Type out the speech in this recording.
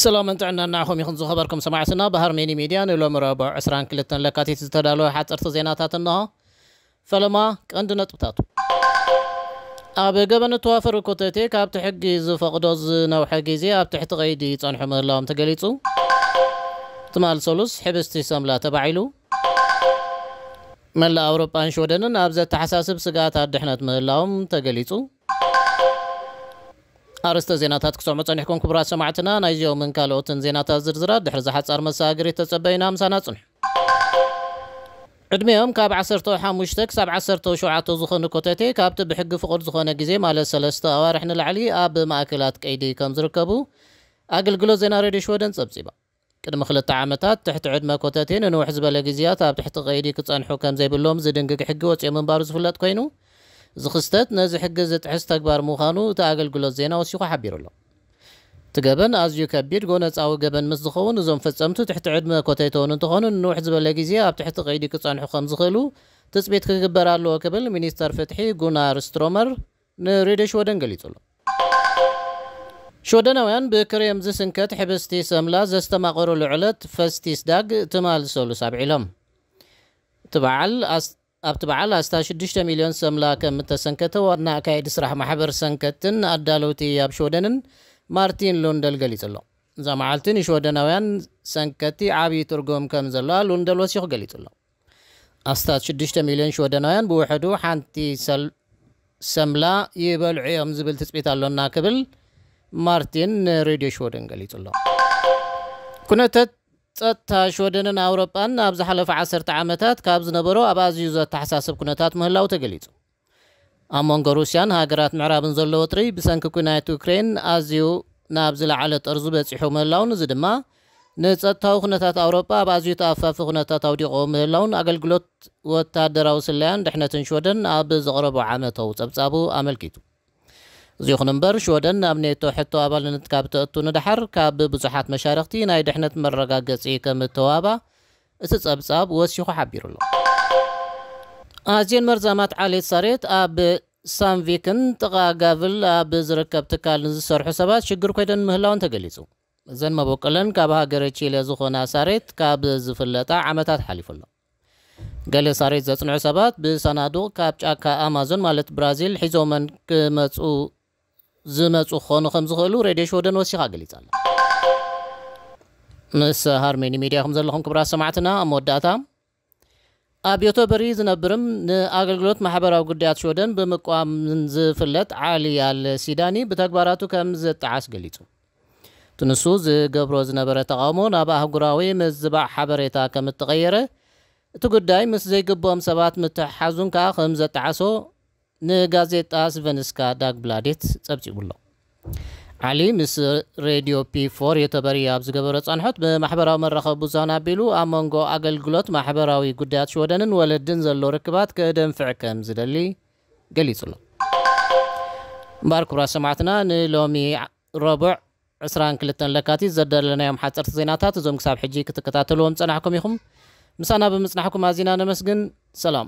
ሰላምን ጥዕናን ንዓኹም ይኹን ዝኸበርኩም ሰማዕትና ብሃርሜኒ ሚድያ ንሎሚ ረቡዕ ዕስራን ክልተን ለካቲት ዝተዳለወ ሓጸርቲ ዜናታት እንሆ። ፈለማ ቀንዲ ነጥብታቱ። ኣብ ገበን እተዋፈሩ ኮተቴ ካብቲ ሕጊ ዝፈቕዶ ዝነውሐ ግዜ ኣብ ትሕቲ ቀይዲ ይጸንሑ ምህላዎም ተገሊጹ። ትማል ሰሉስ ሕብስቲ ሰምላ ተባዒሉ። መላእ ኣውሮጳን ሽወደንን ኣብ ዘተሓሳስብ ስግኣት ኣድሕነት ምህላዎም ተገሊጹ። ኣርእስተ ዜናታት ክትሰምዑ ጸኒሕኩም ክቡራት ሰማዕትና፣ ናይዚኦምን ካልኦትን ዜናታት ዝርዝራት ድሕሪ'ዚ ሓጻር መሰጋገሪት ተጸበዩና ምሳና ጽንሑ። ዕድሚኦም ካብ ዓሰርተው ሓሙሽተ ክሳብ ዓሰርተው ሸውዓተ ዝኾኑ ኮተቴ ካብቲ ብሕጊ ፍቑድ ዝኾነ ግዜ ማለት ሰለስተ ኣዋርሕ ንላዕሊ ኣብ ማእከላት ቀይዲ ከምዝርከቡ ኣገልግሎት ዜና ሬድዮ ሽወደን ጸብጺባ። ቅድሚ ክልተ ዓመታት፣ ትሕቲ ዕድመ ኮተቴ ንንውሕ ዝበለ ግዝያት ኣብ ትሕቲ ቀይዲ ክጸንሑ ከምዘይብሎም ዝድንግግ ሕጊ ወጺኦ ምንባሩ ዝፍለጥ ኮይኑ፣ እዚ ክስተት ነዚ ሕጊ ዝጥሕስ ተግባር ምዃኑ እቲ ኣገልግሎት ዜና ወሲኹ ሓቢሩ'ሎ። እቲ ገበን ኣዝዩ ከቢድ ጎነጻዊ ገበን ምስ ዝኸውን፣ እዞም ፈጸምቱ ትሕቲ ዕድመ ኮተቴ'ውን እንተኾኑ ንንውሕ ዝበለ ግዜ ኣብ ትሕቲ ቀይዲ ክጸንሑ ከምዝኽእሉ ትጽቢት ክግበር ኣለዎ ክብል ሚኒስተር ፍትሒ ጉናር ስትሮመር ንሬድዮ ሽወደን ገሊጹ'ሎ። ሽወደናውያን ብክሬም ዝስንከት ሕብስቲ ሰምላ ዘስተማቐሩሉ ዕለት ፈስቲስዳግ ትማል ሰሉስ ኣብዒሎም። እቲ በዓል ኣብቲ በዓል ኣስታት ሽዱሽተ ሚልዮን ሰምላ ከም እተሰንከተ ዋና ኣካየዲ ስራሕ ማሕበር ሰንከትቲን ኣዳለውቲ ኣብ ሽወደንን ማርቲን ሉንደል ገሊጹ'ሎ። እዛ መዓልቲ ንሽወደናውያን ሰንከትቲ ዓቢ ትርጉም ከም ዘለዋ ሉንደል ወሲኹ ገሊጹ'ሎ። ኣስታት ሽዱሽተ ሚልዮን ሽወደናውያን ብውሕዱ ሓንቲ ሰምላ ይበልዑ እዮም ዝብል ትፅቢት ኣሎና ክብል ማርቲን ንሬድዮ ሽወደን ገሊጹ ኣሎ። ኩነተት ጸጥታ ሽወደንን ኣውሮጳን ኣብ ዝሓለፈ ዓሰርተ ዓመታት ካብ ዝነበሮ ኣብ ኣዝዩ ዘተሓሳስብ ኩነታት ምህላው ተገሊጹ። ኣብ መንጎ ሩስያን ሃገራት ምዕራብን ዘሎ ወጥሪ ብሰንኪ ኲናት ዩክረይን ኣዝዩ ናብ ዝለዓለ ጠርዙ በጺሑ ምህላዉን እዚ ድማ ንጸጥታዊ ኩነታት ኣውሮጳ ኣብ ኣዝዩ ተኣፋፊ ኩነታት ኣውዲቕዎ ምህላዉን ኣገልግሎት ወተሃደራዊ ስለያን ድሕነትን ሽወደን ኣብ ዘቕረቦ ዓመታዊ ጸብጻቡ ኣመልኪቱ። እዚ ይኹን'ምበር ሽወደን ናብ ኔቶ ሕቶ ኣባልነት ካብ ተእቱ ንደሓር ካብ ብዙሓት መሻርኽቲ ናይ ድሕነት መረጋገጺ ከም እተዋህባ እቲ ጸብጻብ ወሲኹ ሓቢሩ'ሎ። ኣዝየን መርዛማት ዓሌት ሳሬት ኣብ ሳንድቪክን ጥቓ ጋቭል ኣብ ዝርከብ ትካል ንዝሰርሑ ሰባት ሽግር ኮይነን ምህላወን ተገሊጹ። እዘን መበቆለን ካብ ሃገረ ቺለ ዝኾና ሳሬት ካብ ዝፍለጣ ዓመታት ሓሊፉ'ሎ። ገለ ሳሬት ዘጽንዑ ሰባት ብሳናዱቕ ካብ ጫካ ኣማዞን ማለት ብራዚል ሒዞመን ክመጽኡ ዝመጹ ክኾኑ ከም ዝኽእሉ ሬድዮ ሽወደን ወሲኻ ገሊጻ ኣላ። ምስ ሃርሜኒ ሚድያ ኢኹም ዘለኹም ክብራት ሰማዕትና ኣብ መወዳእታ ኣብ ዮቶበሪ ዝነብርም ንኣገልግሎት ማሕበራዊ ጉዳያት ሽወደን ብምቋም ዝፍለጥ ዓሊ ኣል ሲዳኒ ብተግባራቱ ከም ዝጠዓስ ገሊጹ እቲ ንሱ ዝገብሮ ዝነበረ ተቓውሞ ናብ ኣህጉራዊ ምዝባዕ ሓበሬታ ከም እተቐየረ እቲ ጉዳይ ምስ ዘይግብኦም ሰባት ምትሕሓዙን ከኣ ከም ዘጠዓሶ ንጋዜጣ ስቨንስካ ዳግብላዴት ጸብጺቡ'ሎ። ዓሊ ምስ ሬድዮ ፒ ፎር ዮተበርይ ኣብ ዝገበሮ ጻንሖት፣ ብማሕበራዊ መራኸቢ ብዙሃን ኣቢሉ ኣብ መንጎ ኣገልግሎት ማሕበራዊ ጉዳያት ሽወደንን ወለድን ዘሎ ርክባት ከደንፍዕ ከም ዝደሊ ገሊጹ'ሎ። እምበኣር ክቡራት ሰማዕትና ንሎሚ ረቡዕ ዕስራን ክልተን ለካቲት ዘዳለናዮም ሓጸርቲ ዜናታት እዞም ክሳብ ሕጂ ክትከታተልዎም ዝጸናሕኩም ኢኹም። ምሳና ብምጽናሕኩም ኣዚና ነመስግን። ሰላም።